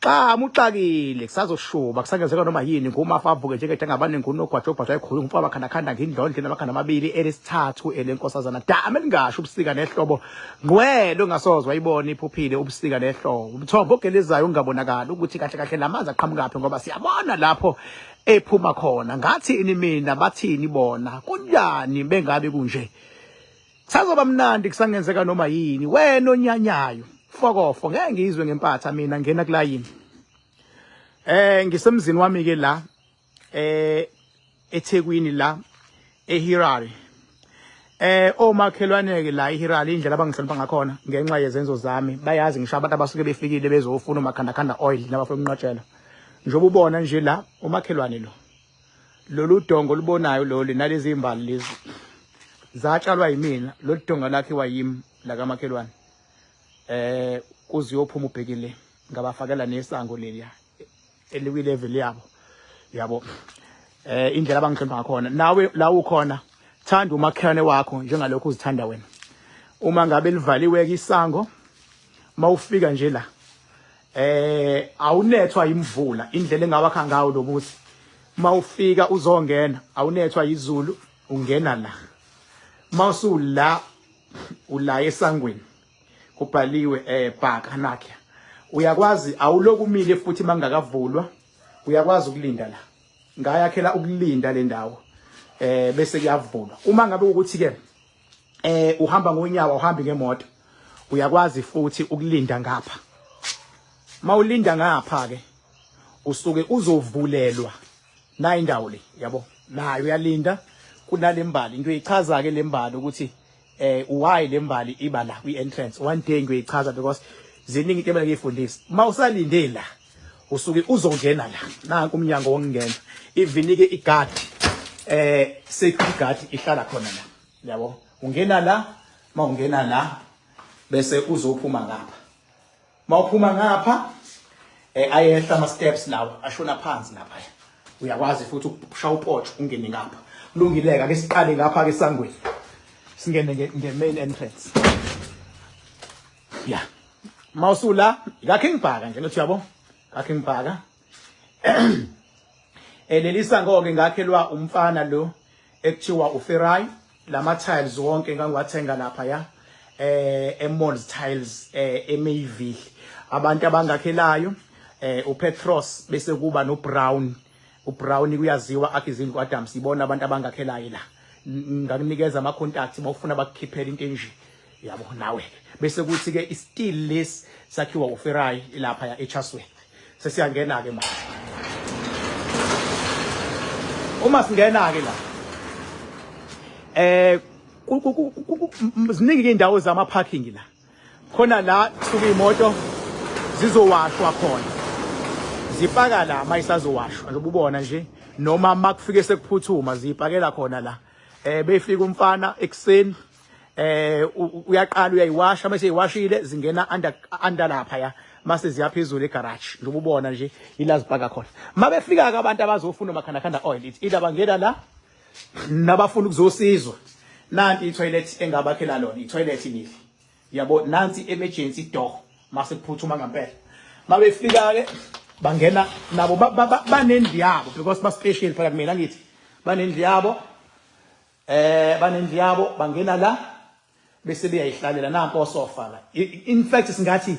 Xamu uxakile kusazoshuba kusangenzeka noma yini ngumafa avuke njengede angabaningi unogwaja ogwaja ekhulu umfo abakhanakhanda ngindlondle namakhanda amabili elesithathu elenkosazana dama elingasho ubusika nehlobo ngqwele ongasozwa ibona iphuphile ubusika nehlobo umthombo ogelezayo ungabonakali ukuthi kahle kahle lamanzi aqhamukaphi ngoba siyabona lapho ephuma khona ngathi ini mina bathini bona kunjani bengabe kunje Sazoba mnandi kusangenzeka noma yini wena onyanyayo fokofo ngeke ngizwe ngempatha mina ngena kulayini eh ngisemzini wami ke la eh eThekwini la eHirari eh omakhelwane ke la eHirari indlela abangihlonipha ngakhona ngenxa yezenzo zami bayazi ngisho abantu abasuke befikile bezofuna umakhanda khanda oil nabafuna umnqotshela njengoba ubona nje la umakhelwane lo lolu dongo olubonayo lolu nalezi imbali lezi zatshalwa yimina lolu dongo lakhiwa yimi lakamakhelwane eh kuze uyophuma ubhekile ngabafakela nesango leliya eliwi level yabo yabo eh indlela abangihlonipha ngakhona nawe la ukhona thanda umakhelwane wakho njengalokho uzithanda wena uma ngabe livaliwe ke isango mawufika nje la Eh awunethwa imvula indlela engawakha ngawo lobusi. Mawufika uzongena awunethwa izulu ungena la. Mawusula ula esangweni kubhaliwe eh bhaka nakhe. Uyakwazi awuloku umile futhi mangakavulwa uyakwazi ukulinda la. Ngayakhela ukulinda le ndawo eh bese kuyavulwa. Uma ngabe ukuthi ke eh uhamba ngonyawo uhambi ngemoto uyakwazi futhi ukulinda ngapha mawulinda ngapha ke usuke uzovulelwa nayi indawo le yabo nayo uyalinda kunalembali into eyichaza ke lembali ukuthi eh why lembali iba la kwi entrance one day ngiyoyichaza because ziningi into emele ngiyifundise mawusalinde la usuke uzongena la nanku umnyango wokungena ivinike igadi eh security guard ihlala khona la yabo ungena la mawungena la bese uzophuma ngapha mawuphuma ngapha eh ayehla ama steps lawo ashona phansi lapha uyakwazi futhi ukusha upotsho ungene ngapha kulungileke ake siqale ngapha ke sangweni singene nge main entrance ya mawusula ngakhe ngibhaka nje lothi yabo ngakhe ngibhaka elelisa ngoke ngakhelwa umfana lo ekuthiwa uferai lama tiles wonke ngangiwathenga lapha ya eh emalls tiles eh emayville abantu abangakhelayo eh upetros bese kuba no brown uBrown kuyaziwa akhe izindlu kwaDams ibona abantu abangakhelayo la ngakunikeza ama contacts mawufuna bakukhiphela into enje yabo nawe bese kuthi ke i steel less sakhiwa uFerai lapha ya eChaswell sesiyangena ke manje uma singena ke la eh ziningi indawo zama parking la khona la kusuka iy'moto zizowashwa khona zipaka la uma isazowashwa njengoba ubona nje noma uma kufike sekuphuthuma ziyipakela khona la um befika umfana ekuseni eh uyaqala uyayiwasha mase iwashile zingena under under lapha ya mase ziyaphezulu egarage njengoba ubona nje ila zibhaka khona mabefika ke abantu abazofuna umakhanda khanda oil ithi ila bangena la nabafuna ukuzosizwa nanti itoilet engabakhela lona itoilet nili yabo nansi emergency door mase kuphuthuma ngempela mabefika ke bangena nabo banendlu yabo because ba special phakathi mina ngithi banendlu yabo eh banendlu yabo bangena la bese beyayihlalela nanko osofa la in fact singathi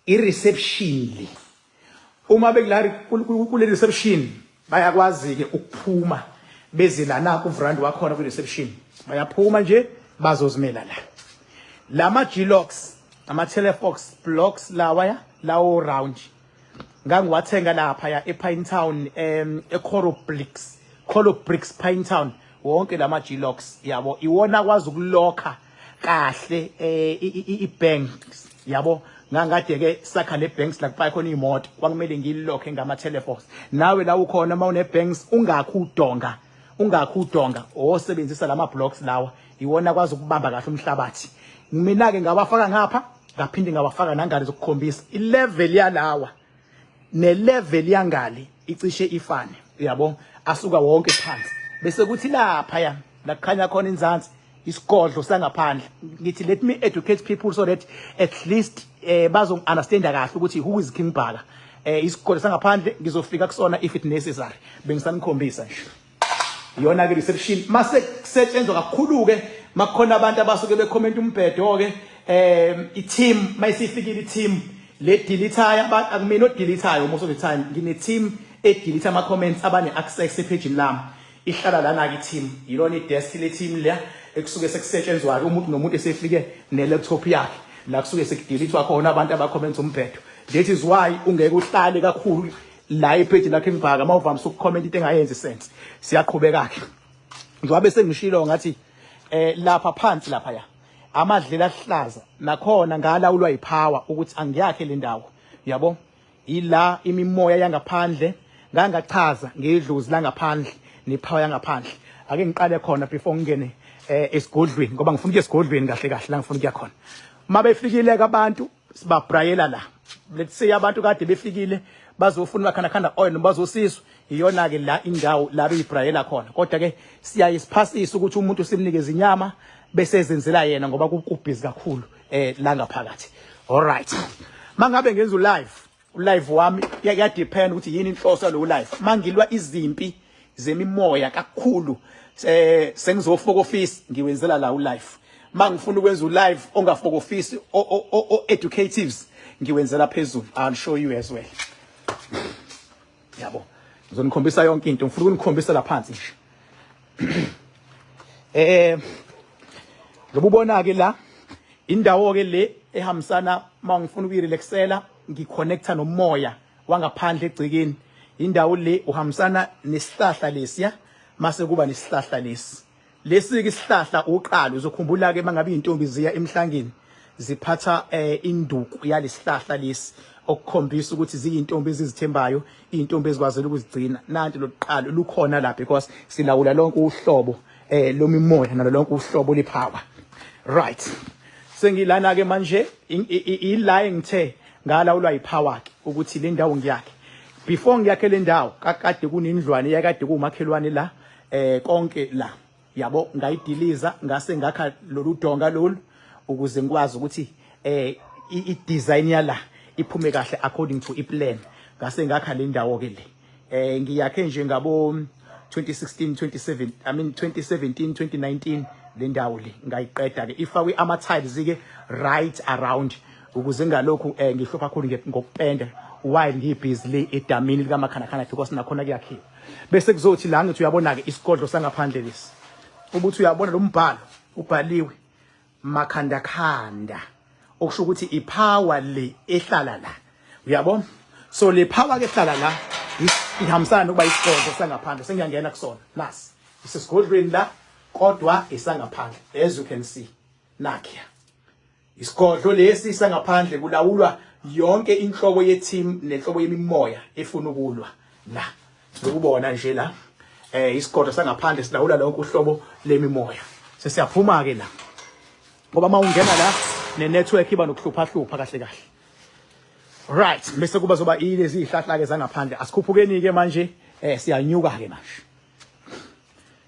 i reception le uma bekula kule reception bayakwazi ke ukuphuma beze la na ku vrand wakhona ku reception bayaphuma nje bazozimela la lama G-locks ama telefox blocks lawa ya lawo round ngangiwathenga laphaya epine town um ecorobrix corobrix pine town wonke la ma-glox yabo iwona akwazi ukulokha kahle um i-banks yabo ngangade-ke sakha ne-banks la kupaye khona iy'moto kwakumele ngililokhe ngama-telefos nawe la ukhona uma une-banks ungakhi udonga ungakhi udonga osebenzisa la ma-blocks lawa iwona kwazi ukubamba kahle umhlabathi mina ke ngawafaka ngapha ngaphinde ngawafaka nangale zokukhombisa ilevel yalawa nelevel yangale icishe ifane uyabo asuka wonke phansi bese kuthi lapha ya lakhanya khona inzansi isigodlo sangaphandle ngithi let me educate people so that at least eh bazo understand kahle ukuthi who is king bhaka eh isigodlo sangaphandle ngizofika kusona if it necessary bengisanikhombisa nje iyona ke reception mase kusetshenzwa kakhulu ke makukhona abantu abasuke becomment umbhedo ke um i-team mayisifikile i-team le deletayo akumina odeletayo most of the time ngine-team edelete ama-comments abane-access ephejini lami ihlala lana-ke i-team yilona i-desk le-team leya ekusuke sekusetshenzwa-ke umuntu nomuntu esefike ne-laptop yakhe la kusuke sekudelethwa khona abantu abakhomenta umbhedo that is why ungeke uhlale kakhulu la epage lakhe ngibhaka uma uvamise ukucomment into engayenzi sense siyaqhubeka ke njengoba bese ngishilo ngathi eh lapha phansi lapha ya amadlela ahlaza nakhona ngala ulwa ipower ukuthi angiyakhe le ndawo yabo ila imimoya yangaphandle ngangachaza ngedlozi langaphandle nepower yangaphandle ake ngiqale khona before ngingene eh esigodlweni ngoba ngifuna ukuya esigodlweni kahle kahle la ngifuna ukuya khona mabefikile abantu sibabrayela la let's say abantu kade befikile bazofuna bakhanakhanda oil noma bazosizwa iyona ke la indawo la beyibrayela khona kodwa ke siyaye siphasise ukuthi umuntu simnikeze inyama bese ezenzela yena ngoba kubhizi kakhulu eh la ngaphakathi all right mangabe ngenza live ulive wami yadepend ukuthi yini inhloso yalowo live mangilwa izimpi zemimoya kakhulu eh sengizofokofisa ngiwenzela la ulive mangifuna ukwenza ulive ongafokofisi o educatives ngiwenzela phezulu i'll show you as well yabo ngizonikhombisa yonke into ngifuna ukunikhombisa laphansi nje eh lobubona ke la indawo ke le ehambisana mangifuna ukuyirelaxela ngiconnecta nomoya wangaphandle egcikeni indawo le uhambisana nesihlahla lesiya mase kuba nesihlahla lesi Lesike isihlahla uqalo uzokhumbula ke mangabe izintombi ziya emhlangeni ziphatha eh, induku yalesihlahla lesi okukhombisa ukuthi ziyintombi ezizithembayo izintombi ezikwazile ukuzigcina nanti loqalo lukhona la because silawula lonke uhlobo eh lomimoya nalo lonke uhlobo lipower right sengilana ke manje ila engithe ngalawulwa yipower ke ukuthi le ndawo ngiyakhe before ngiyakhe le ndawo kakade kunendlwane yakade kumakhelwane la eh konke la yabo ngayidiliza ngase ngakha lolu donga lolu ukuze ngikwazi ukuthi eh i-design yala iphume kahle according to i-plan ngase ngakha le ndawo ke le eh ngiyakhe nje ngabo 2016 27 i mean 2017 2019 le ndawo le ngayiqeda ke ifakwe ama tiles ke right around ukuze ngalokhu eh ngihlupha kakhulu ngokupenda while ngibhizi le edamini likamakhanakhanakhe kwasinakhona kuyakhiwa Bese kuzothi la ngithi uyabona-ke isigodlo sangaphandle lesi ubuthi uyabona lo mbhalo ubhaliwe makhandakhanda okusho ukuthi iphawa le ehlala la uyabo so le phawa ke ehlala la ihambisana nokuba isigodlo sangaphandle sengiyangena kusona nasi isesigodlweni la kodwa isangaphandle as you can see nakhiya Isigodlo lesi sangaphandle kulawulwa yonke inhlobo yeteam nenhlobo yemimoya efuna ukulwa na lokubona nje la eh isigodlo sangaphandle silawula lonke uhlobo lemimoya sesiyaphuma ke la ngoba mawungena la ne network iba nokuhlupha hlupha kahle kahle right bese kuba zoba ilezi ihlahla ke zangaphandle asikhuphukeni ke manje eh siyanyuka ke manje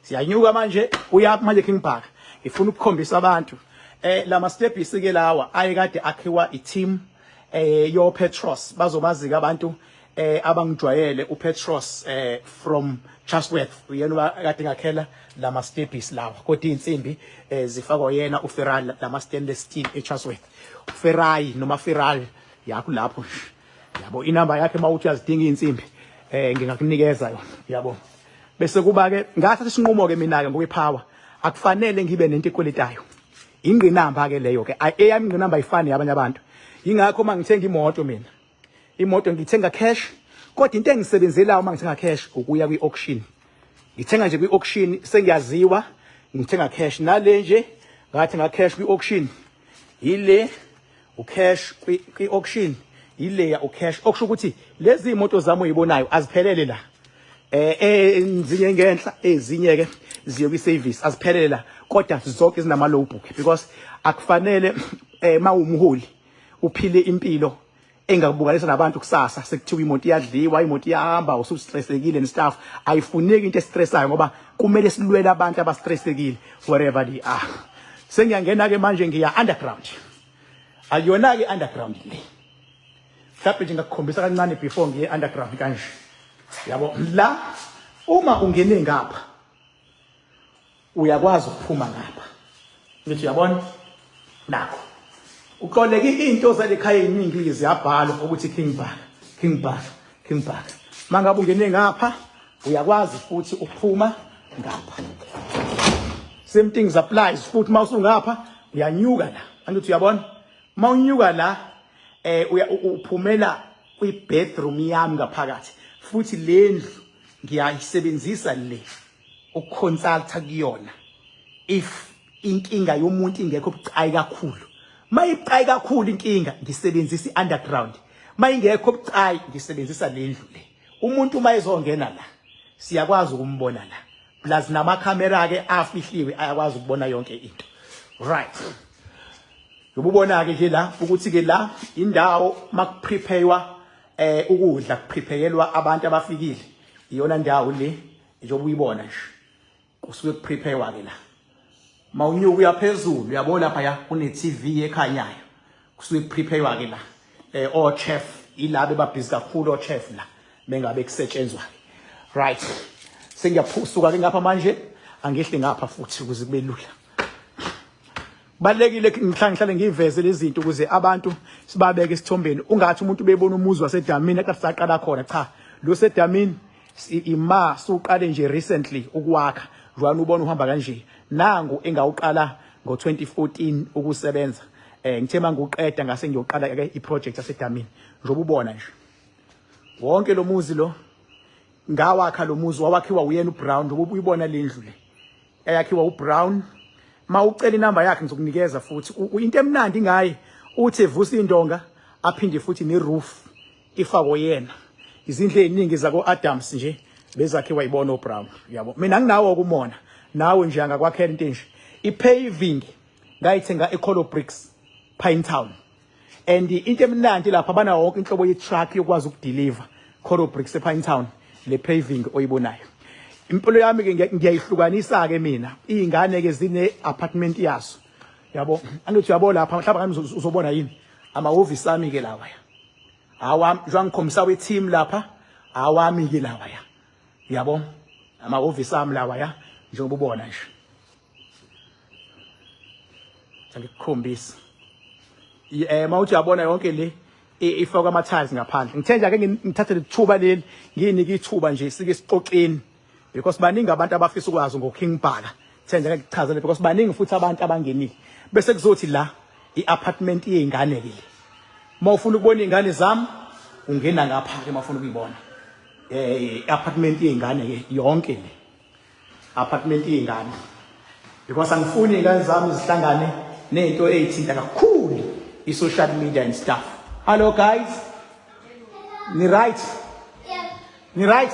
siyanyuka manje uyaphi manje King Bhaka ngifuna ukukhombisa abantu eh lama stepis ke lawa ayekade akhiwa iteam eh yo Petros bazobazika abantu eh abangijwayele uPetros eh from Chatsworth uyena kade ngakhela lama stepis lawa kodwa insimbi eh zifakwa yena uFeral lama stainless steel eChatsworth uFerai noma Feral yakho lapho yabo inamba yakhe mawuthi uyazidinga izinsimbi eh ngingakunikeza yona yabo bese kuba ke ngathatha isinqumo ke mina ke ngokwepower akufanele ngibe nento ekweletayo ingqinamba ke leyo ke eyami ingqinamba ayifani yabanye abantu ingakho uma ngithenga imoto mina imoto ngithenga cash kodwa into engisebenzelayo uma ngithenga cash ukuya kwi-auction ngithenga nje kwi-auction sengiyaziwa ngithenga cash nale nje ngathi nga cash kwi-auction yile ucash kwi auction yileya ucash okusho ukuthi lezi imoto zami oyibonayo aziphelele la eh enzinye ngenhla ezinye ke ziyo kwi service aziphelele la kodwa zonke zinama low book because akufanele eh mawumholi uphile impilo engakubukalisa nabantu kusasa sekuthiwa imoto iyadliwa imoto iyahamba usustressekile nestaff ayifuneki into estressayo ngoba kumele silwele abantu abastressekile wherever they are sengiyangena ke manje ngiya underground akuyona-ke i-underground le mhlawumbe nje ngakukhombisa kancane before ngiye underground kanje yabo la uma ungene ngapha uyakwazi ukuphuma ngapha ngithi uyabona nakho uxoleke into zalekhaya eziningi lezi yabhalwa ukuthi king bhaka king bhaka Kimbhaka. Mangabe ungene ngapha uyakwazi futhi ukuphuma ngapha. Same things applies futhi mawusungapha uyanyuka la. Angithi uyabona? Mawunyuka la eh uphumela kwi bedroom yami ngaphakathi futhi lendlu ngiyayisebenzisa le. ukuconsulta kuyona if inkinga yomuntu ingekho bucayi kakhulu mayibucayi kakhulu inkinga ngisebenzisa i-underground mayingekho bucayi ngisebenzisa le ndlu le umuntu uma ezongena la siyakwazi ukumbona la plus namakhamera-ke afihliwe ayakwazi ukubona yonke into right yobubona-ke ke la ukuthi-ke la indawo makuprepaywa um eh, ukudla kuprepayelwa abantu abafikile iyona ndawo le njengoba uyibona nje kusuke kuprepare ke la mawunyuka uyaphezulu uyabo lapha ya kune TV ekhanyayo kusuke kuprepare ke la eh o chef ilabe babhizi kakhulu o chef la mengabe kusetshenzwa right sengiyaphusuka ke ngapha manje angehle ngapha futhi ukuze kube lula balekile ngihlale ngihlale ngiveze lezinto ukuze abantu sibabeke isithombeni ungathi umuntu bebona umuzi wasedamini akathi saqala khona cha lo sedamini ima suqale nje recently ukwakha jwana ubona uhamba kanje nangu engawuqala ngo-2014 ukusebenza eh ngithe mangiqeda ngase ngiyoqala ke iproject yasedamini njengoba ubona nje wonke lo muzi lo ngawakha lo muzi wawakhiwa uyena uBrown njengoba uyibona lendlu le eyakhiwa uBrown mawucela inamba yakhe ngizokunikeza futhi into emnandi ngaye uthi evusa indonga aphinde futhi neroof ifakwe yena izindlu eziningi zako Adams nje bezakhe wayibona uBrown yabo mina nginawo kumona nawe nje angakwakhela into enje ipaving ngayithenga eColo Bricks Pine Town and into emnandi lapha banawo wonke inhlobo ye-truck yokwazi ukudeliver coro bricks epine town le paving oyibonayo impilo yami-ke ngiyayihlukanisa-ke mina iy'ngane-ke zine-apartment yazo yabo angithi uyabo lapha mhlawumbe ngani uzobona yini amahhovisi ami-ke lawaya awami njengoba ngikhombisa we-team lapha awami-ke lawaya yabo amahhovisi ami lawaya njengoba ubona nje angikukhombisi eh mawuthi uyabona yonke le ifakwa ama tiles ngaphandle ngithe nje ake ngithathe lithuba leli nginike ithuba nje sike sixoxeni because baningi abantu abafisa ukwazi ngo King Bhaka ngithe nje ake ngichazele because baningi futhi abantu abangenile bese kuzothi la i-apartment yey'ngane ke uma ufuna ukubona iy'ngane zami ungena ngapha ke uma ufuna ukuyibona um i-apartment yey'ngane ke yonke le apartment iy'ngane because angifuni iy'ngane zami zihlangane nento eyithinta kakhulu i-social media and stuff hallo guys ni-right ni-right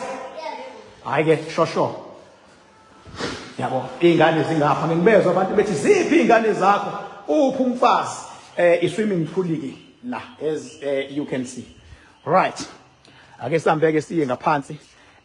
hhayi ke shosho yabo iy'ngane zingapha ngingibezwa abantu bethi ziphi iy'ngane zakho uphi umfazi um i-swimming pool-ke la as um you can see right ake sambeke siye ngaphansi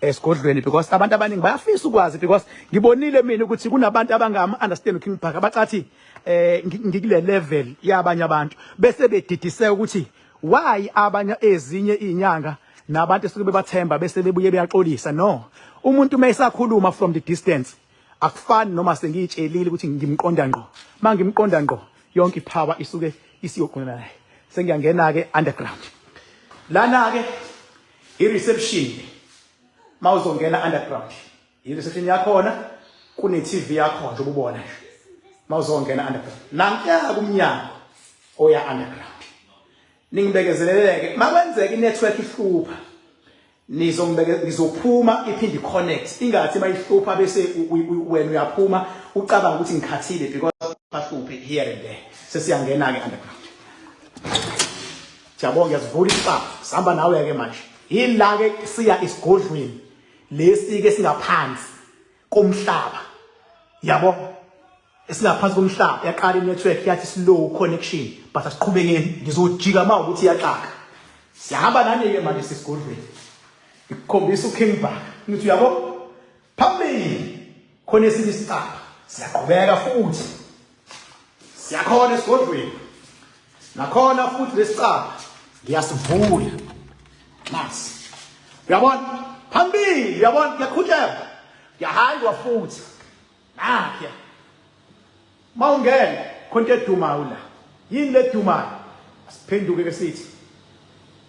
esigodlweni because abantu abaningi bayafisa ukwazi because ngibonile mina ukuthi kunabantu abangama understand uKing Bhaka abacathi eh ngikule level yabanye abantu bese bedidise ukuthi why abanye ezinye izinyanga nabantu esuke bebathemba bese bebuye beyaxolisa no umuntu uma esakhuluma from the distance akufani noma sengiyitshelile ukuthi ngimqonda ngqo uma ngimqonda ngqo yonke iphawa isuke isiyogqina naye sengiyangena-ke underground lana-ke i-reception uma uzongena underground i-reception yakhona kune-tv yakho nje ububona nje uma uzongena underground nankuya kumnyango oya underground Ningibekezeleleke makwenzeka inetwork ihlupha nizongibeke ngizophuma iphinde connect ingathi mayihlupha bese wena uyaphuma ucabanga ukuthi ngikhathile because bahluphe here and there sesiyangena ke underground Siyabonga ngiyazivula isibaba sihamba nawe ke manje yila ke siya isigodlweni lesi ke singaphansi komhlaba yabo esingaphansi komhlaba yaqala inetwork yathi slow connection but asiqhubekeni ngizojika ma ukuthi yaxaka sihamba nani-ke manje sesigodlweni ngikukhombisa uking bak ngithi uyabo phambili khona esinye isicaba siyaqhubeka futhi siyakhona esigodlweni nakhona futhi lesicaba ngiyasivula mas uyabona phambili uyabona ngiyakhutshela ngiyahaywa futhi nakhe mawungena khonto edumayo la yini ledumayo asiphenduke ke sithi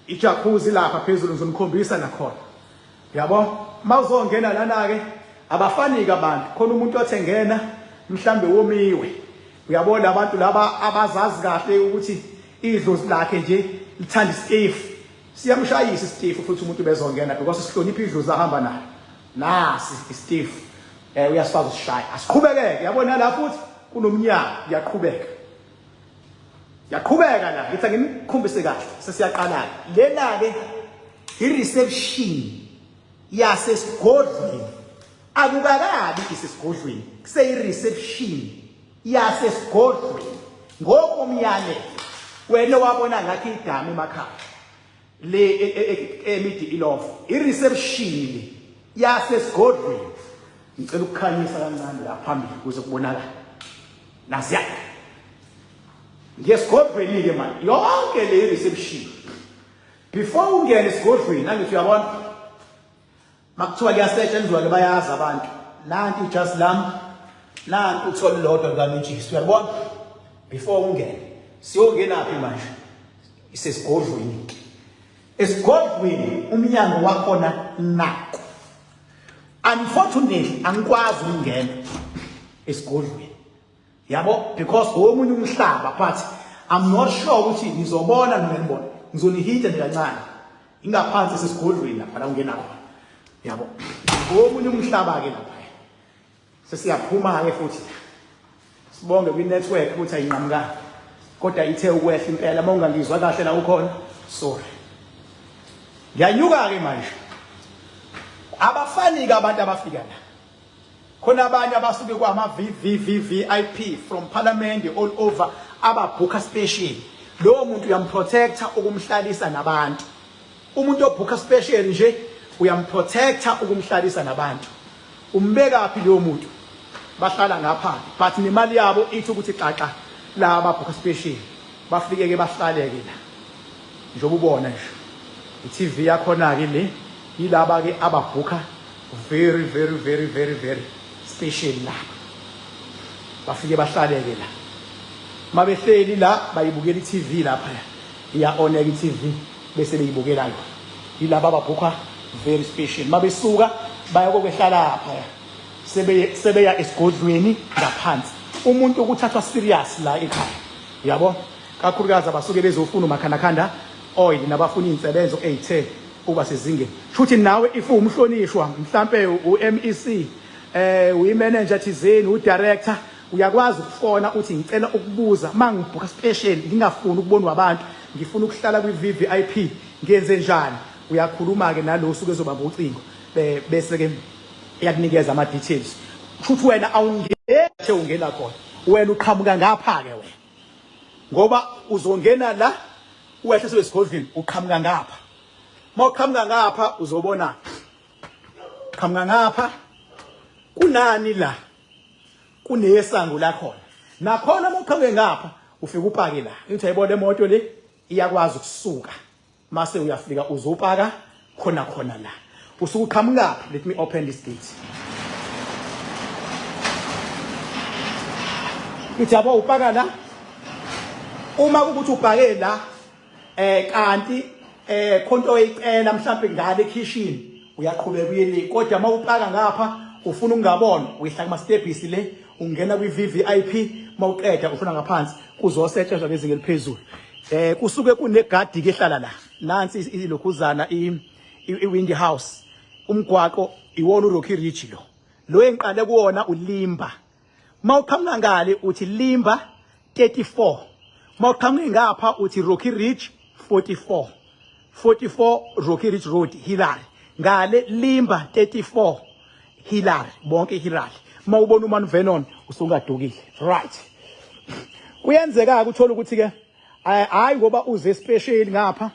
Ijacuzzi lapha phezulu ngizonikhombisa nakhona. Yabo? Mawuzongena lana ke abafanike abantu. Khona umuntu othe ngena mhlambe womiwe. Uyabo labantu laba abazazi kahle ukuthi idlozi lakhe nje lithanda istefu. Siyamshayisa istefu futhi umuntu bezongena because sihlonipha idlozi ahamba nayo. Nasi istefu. Eh uyasifaka usishaya. Asiqhubeke yabo nala futhi kunomnyango uyaqhubeka. Yaqhubeka la ngithi ngimkhombise kahle sesiyaqala lena ke i reception yasesigodlweni akukakabi isesigodlweni kuseyi reception yasesigodlweni ngokomyalelo wena wabona ngathi igama emakhaya le e, e, e, emidi ilofa ireception le yasesigodlweni ngicela ukukhanyisa kancane la phambili kuze kubonakala nasiya ngiyesigodlweni ke manje yonke le reception before ungene esigodlweni angithi uyabona Makuthiwa kuyasetshenzwa ke bayazi abantu. Nanti ijasi lami. Nanti uthola lodwa lami iJesu. Uyabona? Before ungene. Siyongena phi manje? Isesigodlweni. Esigodlweni umnyango wakhona nako. Unfortunately angikwazi ukungena esigodlweni. yabo because omunye umhlaba but i'm not sure ukuthi nizobona noma nibona ngizonihita nje kancane ingaphansi sesigodlweni lapha la ungena khona yabo omunye umhlaba ke lapha sesiyaphuma ke futhi sibonge kwi network ukuthi ayinqamukanga kodwa ithe ukwehla impela uma ungangizwa kahle la ukhona sorry ngiyanyuka ke manje abafani ke abantu abafika la Khona abanye abasuke kwama VVVVIP from parliament all over ababhukha special. Lowo muntu uyamprotector ukumhlalisa nabantu. Umuntu obhukha special nje uyamprotector ukumhlalisa nabantu. Umbeka phi lowo muntu? Bahlala ngapha but nemali yabo ithi ukuthi xaxa la ababhukha special. Bafike ke bahlaleke la. Njengoba ubona nje. I-TV yakhona ke le yilaba ke ababhukha very very very very very special la bafike bahlaleke la mabehleli la bayibukela i-TV lapha iyaoneka i-TV bese beyibukela yona yilaba ababhukha very special mabesuka baya kokwehlala lapha sebe sebeya esigodlweni ngaphansi umuntu ukuthathwa serious la ekhaya yabo kakhulukazi abasuke bezofuna umakhanakhanda oil nabafuna izinsebenzo ezithe uba sezingeni shuthi nawe if uwumhlonishwa mhlampe uMEC eh uyimanager thizeni udirector uyakwazi ukufona uthi ngicela ukubuza mangibhuka special ngingafuni ukubonwa abantu ngifuna ukuhlala kwi VVIP ngenze njani uyakhuluma ke nalo usuke ezobamba ucingo bese ke iyakunikeza ama details shuthi wena awungeke ungena khona wena uqhamuka ngapha ke wena ngoba uzongena la uwehle sebesigodlweni uqhamuka ngapha mawuqhamuka ngapha uzobona qhamuka ngapha kunani la kunesango la khona nakhona mawuqhamuke ngapha ufike upake la ngithi ayibona imoto le iyakwazi ukusuka mase uyafika uzopaka khona khona la usuke uqhamukaphi let me open this gate ngithi yabo upaka la uma kukuthi ubhake la eh kanti eh khonto oyicela mhlawumbe ngale kitchen uyaqhubeka uyele kodwa uma upaka ngapha ufuna ukungabona uyihla kuma stepisi le ungena kwi VVIP mawuqeda ufuna ngaphansi kuzosetshenzwa ngezinga eliphezulu Eh kusuke kunegadi ke hlala la. Nansi ilokhuzana i iWindy House. Umgwaqo iwona uRocky Ridge lo. Lo engiqale kuwona uLimba. Mawuqhamuka ngale uthi Limba 34. Mawuqhamuka ngapha uthi Rocky Ridge 44. 44 Rocky Ridge Road Hillary ngale Limba 34 Hillary bonke Hillary uma ubona uMan Vernon usungadukile right kuyenzeka ukuthola ukuthi ke eh, hayi ngoba uze special ngapha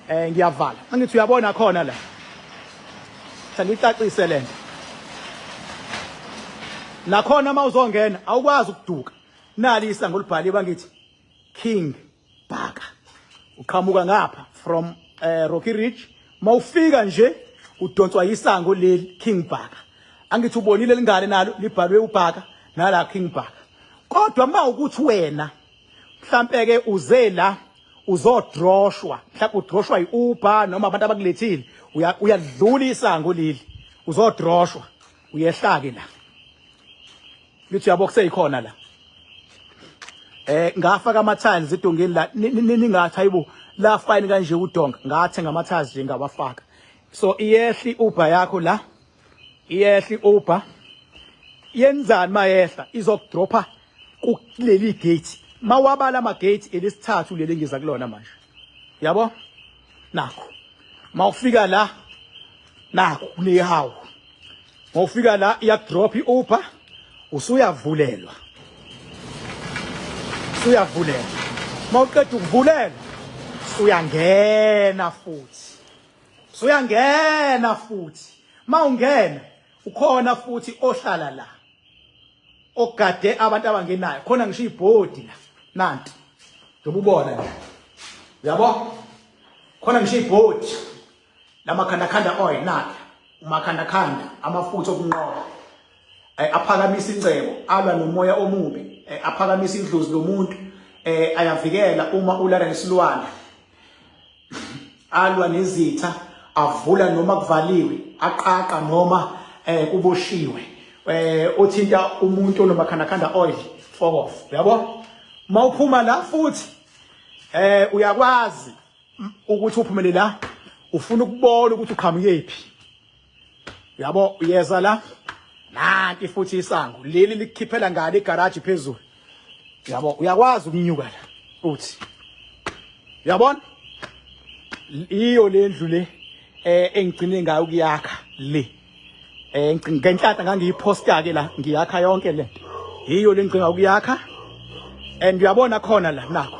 eh ngiyavala angithi uyabona khona la thanda icacise lento nakhona uma uzongena awukwazi ukuduka nali isango libhaliwe ngithi king Bhaka. Uqhamuka ngapha from uh, Rocky Ridge. Mawufika nje udonswa yisango leli King Bhaka. Angithi ubonile lingane nalo libhalwe uBhaka nala King Bhaka. Kodwa uma ukuthi wena mhlambe ke uze la uzodroshwa mhlawumbe udroshwa yi-uber noma abantu abakulethile uyadlula isango leli uzodroshwa uyehlake la Ngithi yabo kuseyikhona la. Eh ngafaka ama tiles idongeni la ningathi hayibo la fine kanje udonga ngathe ngama tiles nje ngawafaka. So iyehli uber yakho la. Iyehli uber. Yenzani mayehla izokudropha kuleli gate. Mawabala ama gate elesithathu leli ngiza kulona manje. yabo nakho mawufika la nakho kunehawu mawufika la iya drop iuber usuyavulelwa usuyavulelwa mawuqeda ukuvulelwa uyangena futhi usuyangena futhi mawungena ukhona futhi ohlala la ogade abantu abangenayo khona ngisho ibhodi la nanti ngibubona nje uyabo khona ngisho ibhodi lamakhanda khanda oil nakhe umakhanda khanda amafutha okunqoba eh, aphakamisa incebo alwa nomoya omubi eh, aphakamisa idlozi lomuntu eh, ayavikela uma ulala nesilwane alwa nezitha avula noma kuvaliwe aqaqa noma eh kuboshiwe eh othinta umuntu onomakhandakhanda oil fuck off yabo mawuphuma la futhi eh uyakwazi ukuthi uphumele la ufuna ukubona ukuthi uqhamukephi yabo yeza la nanti futhi isango leli likhiphela ngani igaraji phezulu yabo uyakwazi ukunyuka la uthi yabona iyo lendlu le eh engigcine ngayo kuyakha le eh ngenhlata ngangiyiposta ke la ngiyakha yonke le iyo lengcinga ukuyakha and uyabona khona la nakho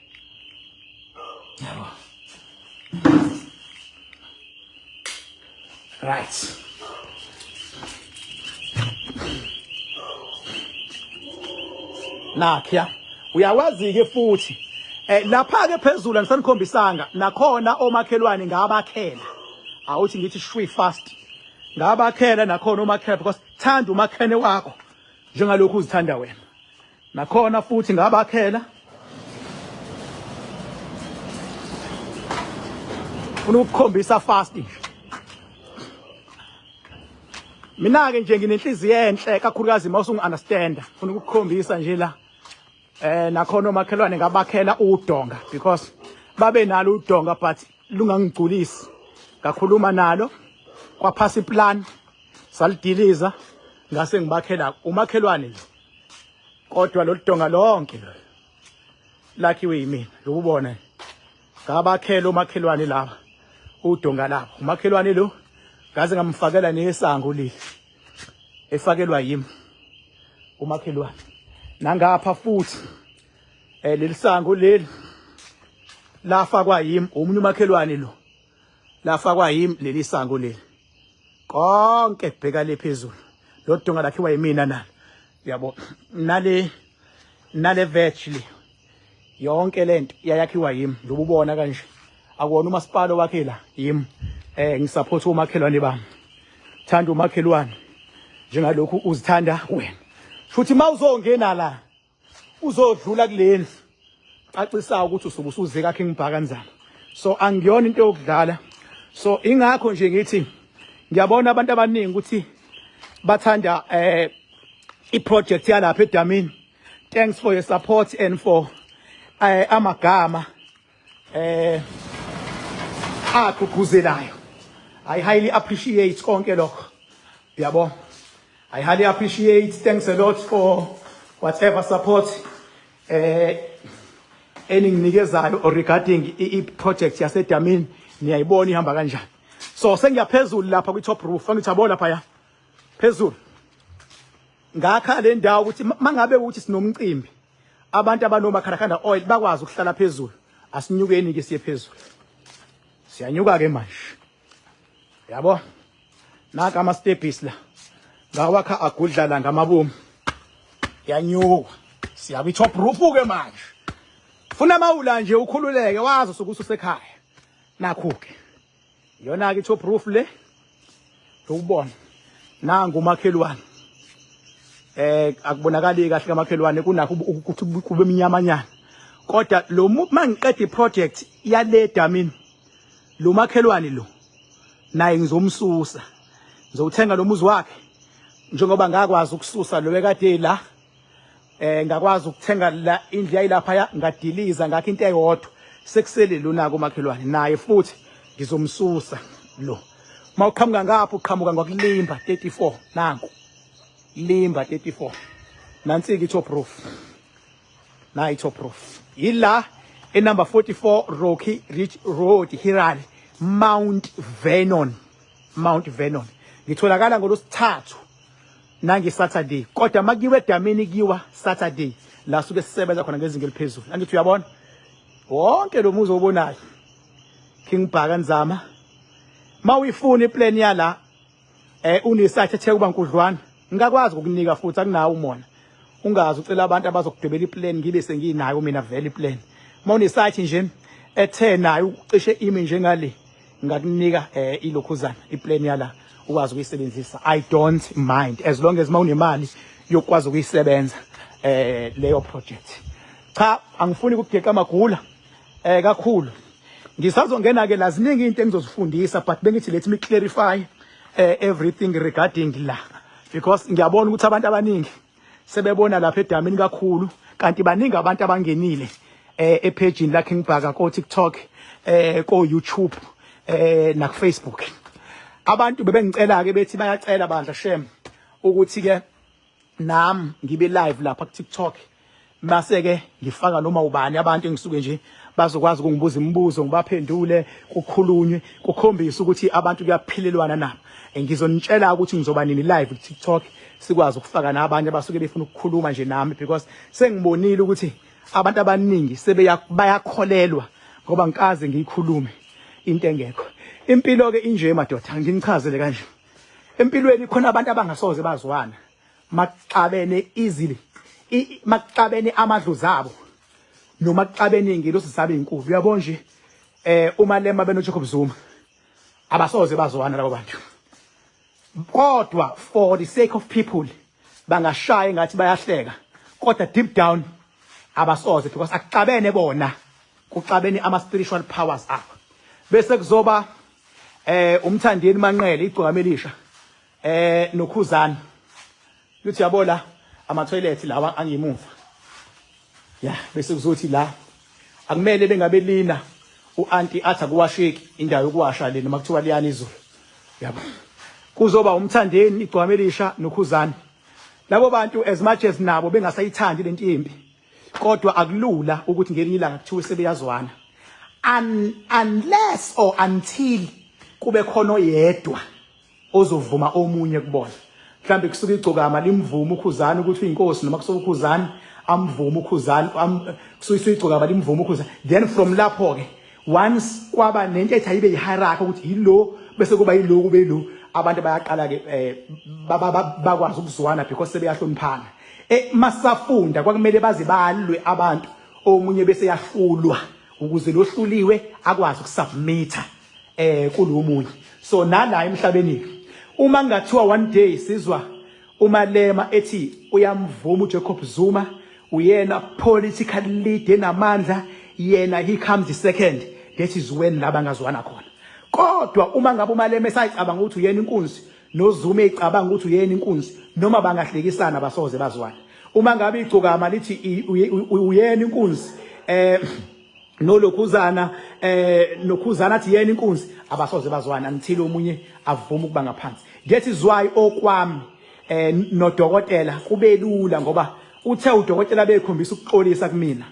yabo right nakhiya uyawazi-ke futhi um lapha-ke phezulu andisanikhombisanga nakhona omakhelwane ngabakhela awuthi ngithi shwi fast ngabakhela nakhona omakhela because thanda umakhene wakho njengalokhu uzithanda wena Nakhona futhi ngabakhela. Funa ukukhombisa fast nje. Mina ke nje nginenhliziyo enhle kakhulukazi uma usungu understand. Funa ukukhombisa nje la. Eh nakhona omakhelwane ngabakhela udonga because babe nalo udonga but lungangigculisi. Ngakhuluma nalo kwaphasa iplan salidiliza ngase ngibakhela umakhelwane nje. kodwa lolu donga lonke lakhiwe yimina lokubona ngabakhela omakhelwane laba udonga labo umakhelwane lo ngaze ngamfakela nesango leli efakelwa yimi umakhelwane nangapha futhi eh leli sango leli lafakwa yimi omunye umakhelwane lo lafakwa yimi leli sango leli konke kubheka le phezulu lo dunga lakhiwa yimina nalo yabo nale nale virtually yonke lento yayakhiwa yimi ngibubona kanje akuwona umasipala wakhe la yimi eh ngisupport umakhelwane bami thanda umakhelwane njengalokhu uzithanda wena futhi mawuzongena la uzodlula kulendlu cacisayo ukuthi usuke usuze kakhe ngibhaka nzama so angiyona into yokudlala so ingakho nje ngithi ngiyabona abantu abaningi ukuthi bathanda eh iproject yalapha edamini thanks for your support and for eh amagama eh agqugquzelayo i highly appreciate konke lokho yabo i highly appreciate thanks a lot for whatever support eh eninginikezayo regarding i project yase Damini niyayibona ihamba kanjani so sengiyaphezulu lapha kwi top roof angithi yabo lapha ya phezulu ngakha le ndawo ukuthi mangabe ukuthi sinomcimbi abantu abanoma Kharakhanda oil bakwazi ukuhlala phezulu asinyukeni ke siye phezulu siyanyuka ke manje yabo naka ama stepis la ngawakha agudlala ngamabomu yanyuka siya kwi top roof ke manje funa mawula nje ukhululeke wazi sokuthi usekhaya nakho ke yona ke top roof le ukubona nangu umakhelwane eh akubonakali kahle kamakhelwane kunakho ukuthi kube minyamanyana kodwa lo mangiqeda iproject yale damini lo makhelwane lo naye ngizomsusa ngizowuthenga lo muzi wakhe njengoba ngakwazi ukususa lo bekade la eh ngakwazi ukuthenga la indlu yayilapha ya ngadiliza ngakho into eyodwa sekusele lona komakhelwane naye futhi ngizomsusa lo mawuqhamuka ngapha uqhamuka ngokulimba 34 nanku limba 34 nansi ke top roof nayi top roof yila enumber 44 Rocky Ridge Road Hiral Mount Vernon Mount Vernon ngitholakala ngolosithathu nange Saturday kodwa makiwe edamini kiwa Saturday la suke sisebenza khona ngezinga eliphezulu angithi uyabona wonke lo muzi obonayo King Bhaka Nzama mawuyifuna iplan yala eh unesakhe ethe kuba nkudlwana ngakwazi ukukunika futhi akunawo umona ungazi ucela abantu abazokudebela iplan ngibe senginayo mina vele iplan mawunesakhe nje ethe nayo ucishe imi njengale ngakunika eh ilokhuzana iplan yala ukwazi ukuyisebenzisa i don't mind as long as mawunemali yokwazi ukuyisebenza eh leyo project cha angifuni ukugeqa amagula eh kakhulu ngisazongena ke laziningi into engizozifundisa but bengithi let me clarify eh, everything regarding la because ngiyabona ukuthi abantu abaningi sebebona lapha edamini kakhulu kanti baningi abantu abangenile eh epage la King Bhaka ko TikTok eh ko YouTube eh na Facebook abantu bebengicela ke bethi bayacela bandla shem ukuthi ke nam ngibe live lapha ku TikTok Base-ke ngifaka noma ubani abantu engisuke nje bazokwazi ukungibuza imibuzo ngibaphendule kukhulunywe kukhombise ukuthi abantu kuyaphilelwana nabo ngizonitshela ukuthi ngizoba nini live ku-tiktok sikwazi ukufaka nabanye abasuke befuna ukukhuluma nje nami because sengibonile ukuthi abantu abaningi sebayakholelwa ngoba ngikaze ngiyikhulume into engekho impilo-ke inje madoda nginichazele kanje empilweni khona abantu abangasoze bazwana makuxabene izili makuxabene amadlu zabo noma kuxabene ingelosi zabo ezinkulu uyabo nje eh uma lema benoJacob Zuma abasoze bazwana labo bantu kodwa for the sake of people bangashaya ngathi bayahleka kodwa deep down abasoze because akuxabene bona kuxabene ama spiritual powers abo bese kuzoba eh umthandeni manqele igcokama elisha eh nokhuzana luthi yabo la ama toilet lawa angemuva ya bese kuzothi la akumele bengabe lina uanti athi akuwasheki indawo yokuwasha le noma kuthiwa liyani izulu yabo kuzoba umthandeni igcwame lisha nokhuzana labo bantu as much as nabo bengasayithandi lento imbi kodwa akulula ukuthi ngelinye ilanga kuthiwe sebeyazwana unless or until kube khona oyedwa ozovuma omunye kubona mhlambe kusuka igcokama limvume ukhuzani ukuthi uyinkosi noma kusuka ukhuzani amvume ukhuzani kusuka igcokama limvume ukhuzani then from lapho ke once kwaba nentetha ibe yihierarchy ukuthi yilo bese kuba yilo kube yilo abantu bayaqala ke eh, bakwazi ukuzwana because sebeyahloniphana eh, masafunda kwakumele baze balwe abantu omunye bese yahlulwa ukuze lohluliwe akwazi ukusubmita eh kulo omunye so nala emhlabeni uma ngathiwa one day sizwa umalema ethi uyamvuma uJacob Zuma uyena political leader namandla yena he comes the second that is when laba ngazwana khona kodwa uma ngabe umalema esayicabanga ukuthi uyena inkunzi nozuma ecabanga ukuthi uyena inkunzi noma bangahlekisana basoze bazwana uma ngabe igcokama lithi uyena inkunzi eh nolokhuzana eh nokhuzana athi yena inkunzi abasoze bazwana ngithile omunye avuma ukuba ngaphansi ngethi zwayi okwami eh nodokotela kubelula ngoba uthe udokotela bekhombisa ukuxolisa kumina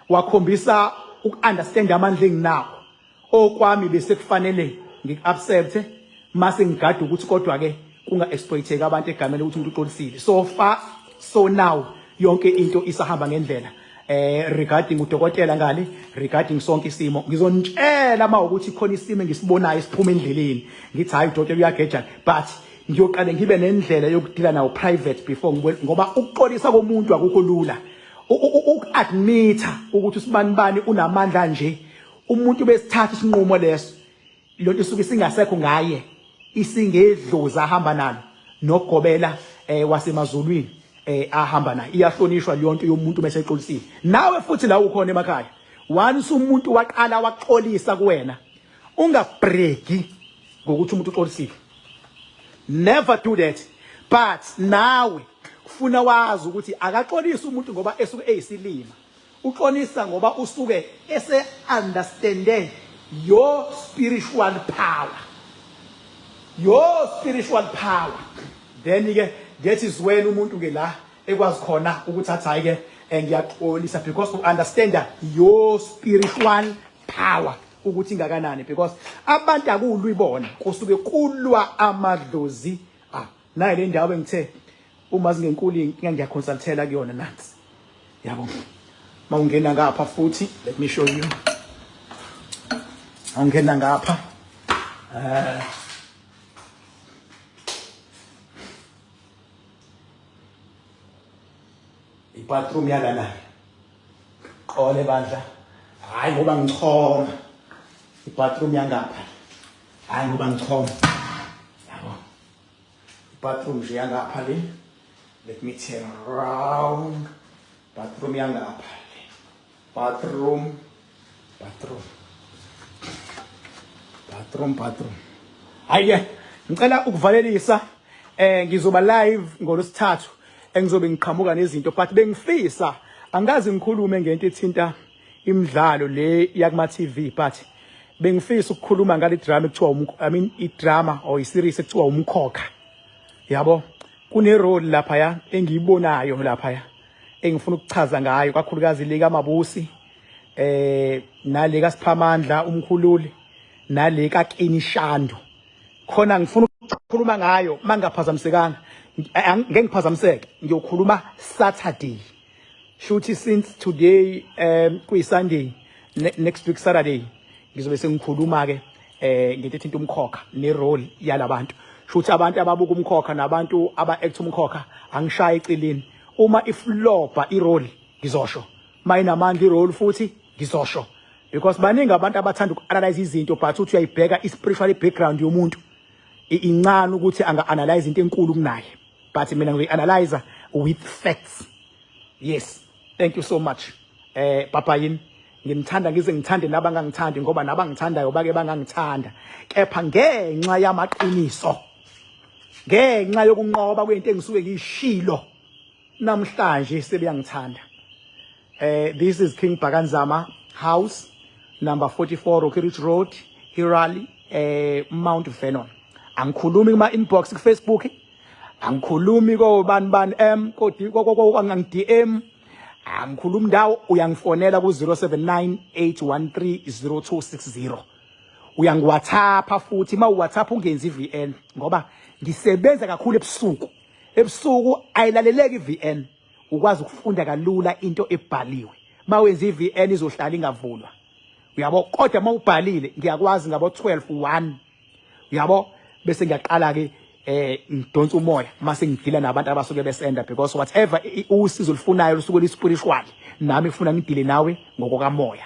wakhombisa ukuunderstand amandla enginawo Okwami besekufanele ngiku-accept-e mase ngigada ukuthi kodwa ke kunga exploiteki abantu egameni ukuthi umuntu uxolisile so far so now yonke into isahamba ngendlela eh regarding udokotela ngani regarding sonke isimo ngizonitshela uma ukuthi khona isimo engisibonayo siphuma endleleni ngithi hayi udokotela uyageja but ngiyoqale ngibe nendlela yokudila nawo private before ngoba ukuxolisa komuntu akukho lula uku-admitha ukuthi usibanibani unamandla nje umuntu besithatha isinqumo leso lonto isuke singasekho ngaye isingedlozi ahamba nalo nogobela eh wasemazulwini eh ahamba naye iyahlonishwa leyonto yomuntu bese exolisile nawe futhi la ukhona emakhaya once umuntu waqala waxolisa kuwena ungabreki ngokuthi umuntu uxolisile never do that but nawe kufuna wazi ukuthi akaxolisa umuntu ngoba esuke eyisilima Uxolisa ngoba usuke ese understande your spiritual power. Your spiritual power. Then ke that is when umuntu ke la ekwazi khona ukuthi athi hayi ke eh, ngiyaxolisa because u understand your spiritual power ukuthi ingakanani because abantu akulwi bona kusuke kulwa amadlozi ah Nayi le ndawo engithe uma zingenkulu inkinga ngiyaconsultela kuyona nansi. Yabo. Mawungena ngapha futhi let me show you. Awungena ngapha. Eh ibathroom yalana qole bandla hayi ngoba ngichoma ibathroom yangapha hayi ngoba ngichoma Bathroom nje yangapha le. Let me turn around. Bathroom yangapha le. Bathroom. Bathroom. Bathroom, bathroom. Hayi ngicela ukuvalelisa eh ngizoba live ngolosithathu engizobe ngiqhamuka nezinto but bengifisa angikaze ngikhulume ngento ethinta imidlalo le yakuma TV but bengifisa ukukhuluma ngale drama ekuthiwa umkho I mean i drama or i series ekuthiwa umkhokha yabo kune role lapha ya engiyibonayo lapha ya engifuna ukuchaza ngayo kakhulukazi le kamabusi eh nale kasiphamandla umkhululi nale kakini shando khona ngifuna ukukhuluma ngayo mangaphazamisekanga ngeke ngiphazamiseke ngiyokhuluma saturday shuthi since today um kuyi Sunday ne, next week Saturday ngizobe sengikhuluma ke eh ngento ethinta umkhokha ne role yalabantu shuthi abantu ababuka umkhokha nabantu aba act umkhokha angishaye icilini uma iflopa i role ngizosho mayinamandla i role futhi ngizosho because baningi abantu abathanda uku-analyze izinto but uthi uyayibheka i-spiritual background yomuntu incane ukuthi anga-analyze into enkulu kunaye but mina ngiyi-analyzer with facts yes thank you so much eh papa yini ngimthanda ngize ngithande laba ngangithandi ngoba naba ngithandayo bake bangangithanda kepha ngenxa yamaqiniso ngenxa yokunqoba kwento engisuke ngiyishilo namhlanje sebeyangithanda Uh, this is King Bhakanzama House, number 44 Rocky Ridge Road, Hirali, eh, Mount Vernon. Angikhulumi kuma inbox ku Facebook. Angikhulumi ko ban ban M ko angang DM. Angikhulumi ndawo uyangifonela ku 0798130260. Uyangiwhatsappa futhi ma uwhatsapp ungenzi VN ngoba ngisebenza kakhulu ebusuku. Ebusuku ayilaleleki VN. ukwazi ukufunda kalula into ebhaliwe mawenza iVN izohlala ingavulwa uyabo kodwa mawubhalile ngiyakwazi ngabo 12 1 uyabo bese ngiyaqala ke eh ngidonsa umoya mase ngidila nabantu abasuke besenda because whatever usizo lifunayo lusuke lispiritual nami ngifuna ngidile nawe ngokokamoya